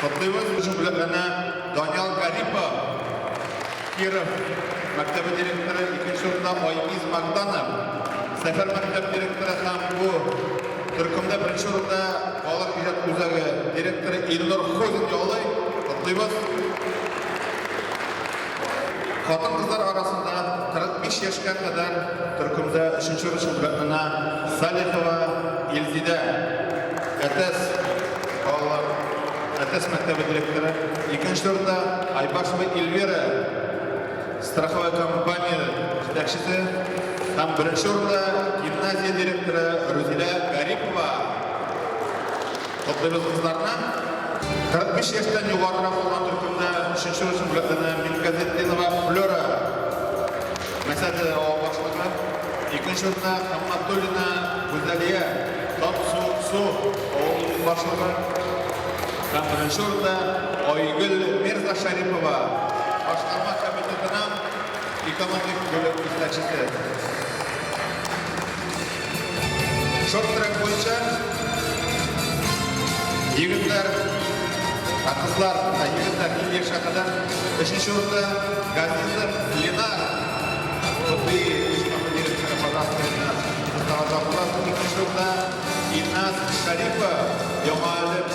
Котлыйбыз Республиканы Даниял Гарипов, Киров мәктәбе директоры, икенче урында Айгиз Магданов, Сәфәр мәктәп директоры һәм бу төркемдә беренче урында балалар иҗат үзәге директоры Илнур Хозин яулый. Котлыйбыз. Хатын-кызлар арасында 45 яшькә кадәр төркемдә өченче ручеблятнына Салихова Илзидә, Әтәс балалар Әтәс мәктәбе директоры, икенче урында Айбашева Эльвира, страховая компания җитәкчесе, һәм беренче урында гимназия директоры Рузилә Гарипова. Котлыйбыз кызларны. 45 яшьтән югарырак булган төркемдә өченче рус бүләкләнә Мингазетдинова Флера, Мәсәде авыл башлыгы. Икенче урында Хамматуллина Гүзәлия, Татсу Су авылының башлыгы. Һәм беренче урында Айгөл Мирзашәрипова, башкарма комитетының экономик бүлек җитәкчесе. Шорт-трек буенча егетләр, ә кызлар, ә егетләр иң яшь хакында. Өченче урында Газизов Ленар. Хобби җитәкче директоры Казахстанда Мустафа Булатов икенче урында Ильназ Шарипов, Яңа Әлем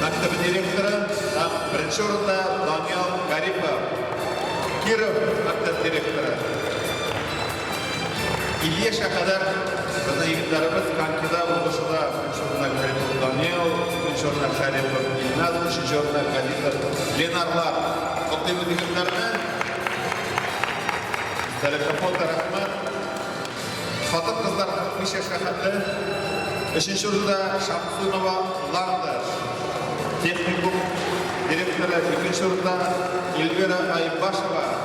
мәктәбе директоры, һәм беренче урында Даниял Гарипов, Киров мәктәп директоры. Ильешка кадәр безнең егетләребез конькида узышуда беренче урында Гарипов Данил, икенче урында Шәрипов Илназ, өченче урында Галитов Ленарлар. Котлыйбыз егетләрне. Сәләтле фото рәхмәт. Хатын-кызлар 45 яшькә хәтле. Өченче урында Шамсунова Ланда. Техникум директоры икенче урында Эльвира Айбашева.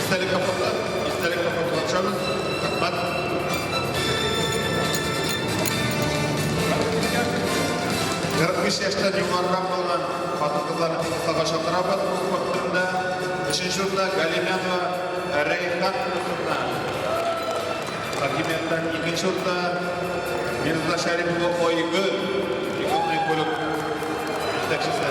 Истәлек капкасы, истәлек капкасы ачабыз. Рәхмәт. Кырык биш яшьтән югарырак булган хатын-кызларны фотога чакырабыз. Спорт төрендә өченче урында Галимянова Рәйхан кызына. Хакимияттән икенче урында Мирза Шәрипова Айгөл. Иконный бүлек җитәкчесе.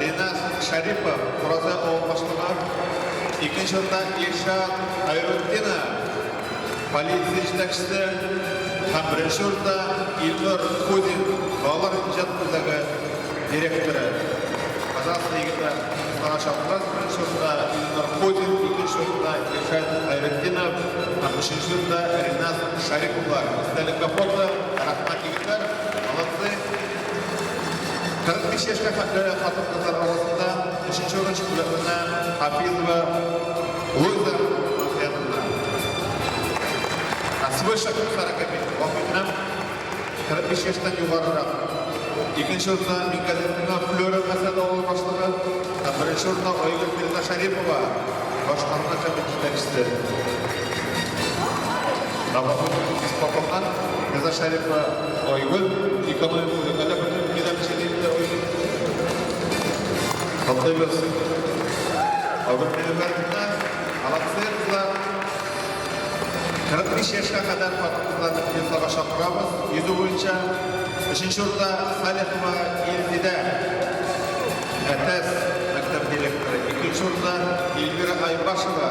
Ринас Шәрипов, Фураза авыл башлыгы, икенче урында Илшат Хәйрутдинов, полиция җитәкчесе, һәм беренче урында Илнур Кудин, балалар иҗат үзәге директоры. Казанлы егетләр сара чаптан беренче урында Илнур Кудин, икенче урында Илшат Хәйрутдинов, һәм өченче урында Ринас Шәриповлар. Истәлеккә фото. Рәхмәт, егетләр, молодцы! 45 яшькә хәтле хатын-кызлар арасында өченче урын чемпионатына Хафизова Луиза Махмедовна. Ә свой шәкерт хәрәкәте вакытнам 45 яшьтән югарырак. Икенче урында Микәлетина Флёра мәсәлә авыл башлыгы, ә беренче урында Айгөл Мирна Шәрипова башкарма комитет җитәкчесе. Гафу итегез, Папахан, Мирна Шәрипова Айгөл Николаевна Галәм Генәм Сидиевна Уин. Котлыйбыз. Айгөл Николаевна, Алаксыя кызы 45 яшькә кадәр хатын-кызларны приютларга чакырабыз. Йөзү буенча өченче урында Салихова Илзидә, Әтәс мәктәп директоры. Икенче урында Эльвира Айбашева.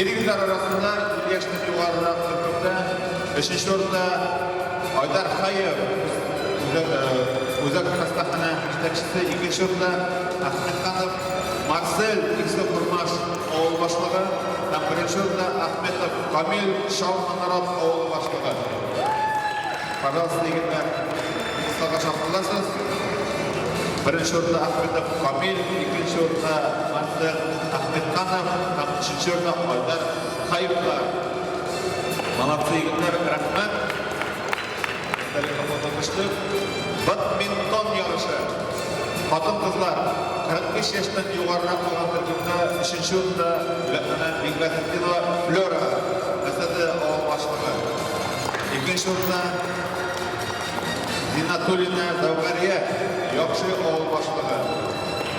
Ир-ирләр арасында яшьтән югарырак төркемдә өченче урында Айдар Хаев үзәк хастаханә җитәкчесе, икенче урында Ахмед Ханов Марсель Иксе Курмаш авыл башлыгы һәм беренче урында Ахметов Камил Шау Манарат авыл башлыгы. Пожалуйста, егетләр, кыскага чакырыласыз. Беренче урында Ахметов Камил, икенче урында Марсель Ахметханов һәм Чечернов Айдар Хаевка Молодцы, егетләр, рәхмәт. Истәлеккә фото төште. Бадминтон ярышы. Хатын-кызлар 45 яшьтән югарырак булган төркемдә өченче урында бүләкләнә Бигмәтдинова Флера, КТД авыл башлыгы. Икенче урында Зинатуллина Зәүгәрия, яхшы авыл башлыгы.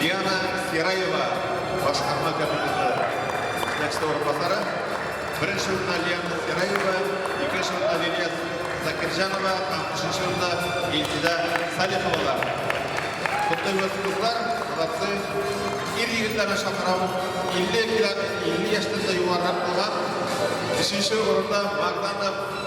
Диана Хераева, башкарма кабинеты җитәкчесе урынбасары. Беренче урында Лиана Хераева, икенче урында Лилия Закирҗанова һәм өченче урында Илсидә Салиховалар. Котлыйбыз кызлар, молодцы. Ир-егетләрне чакырам. 50 килә, 50 яшьтән дә югарырак булган. Өченче урында Магданов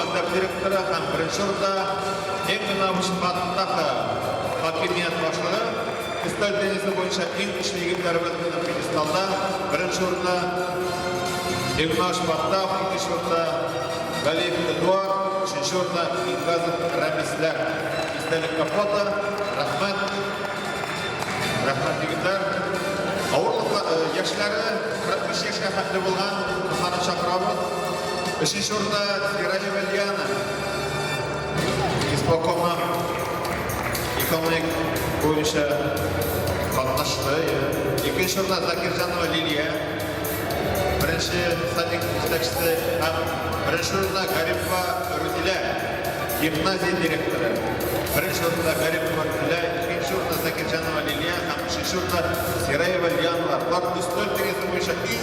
Мәктәп директоры һәм беренче урында иң гына Шимбатовтагы хакимият башлыгы өстәл теннисы буенча иң көчле егетләребез белән пьедесталда беренче урында Ивна Шимбатов, икенче урында Галиев Эдуард, өченче урында Мингазов Рәмисләр. Истәлек капота, рәхмәт. Рәхмәт, егетләр. Авырлык яшьләре 43 яшькә хәтле булган кызларны чакырабыз. Өченче урында Иралиев Ильяна, исполкомнан экономик буенча катнашты. Икенче урында Закирҗанова Лилия, беренче садик җитәкчесе һәм беренче урында Гарипова Рүзилә, гимназия директоры. Беренче урында Гарипова Рүзилә, икенче урында Закирҗанова Лилия һәм өченче урында Сираева Лиана. Бар плюс 4 дигән буенча иң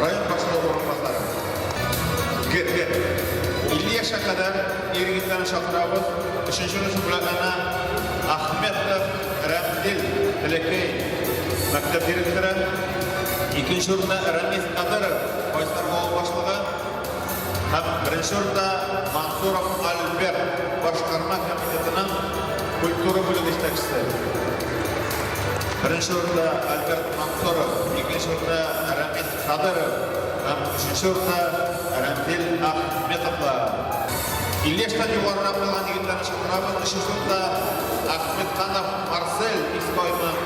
Район башлыгы урынбасары. Гетле. 50 яшькә кадәр ир-егетләрне чакырабыз. Өченче русча бүләкләренә Ахметов Рәмзил Бәләкәй мәктәп директоры. Икенче урында Рәмис Кадыров Байсар авыл башлыгы. Һәм беренче урында Мансуров Альберт башкарма комитетының культура бүлеге җитәкчесе. Беренче урында Альберт Мансуров, икенче урында Рәмис Хадыров һәм өченче урында Рәмзил Ахметовлар. 50 яшьтән югарырак булган егетләрне чакырабыз. Өченче урында Ахметханов Марсель Искойның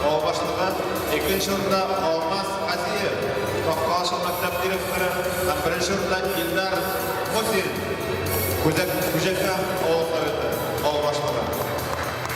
авыл башлыгы. Икенче урында Алмаз Казиев, Токкалашы мәктәп директоры һәм беренче урында Илдар Мусин, Күзәк Күҗәкәм авыл советы авыл башлыгы.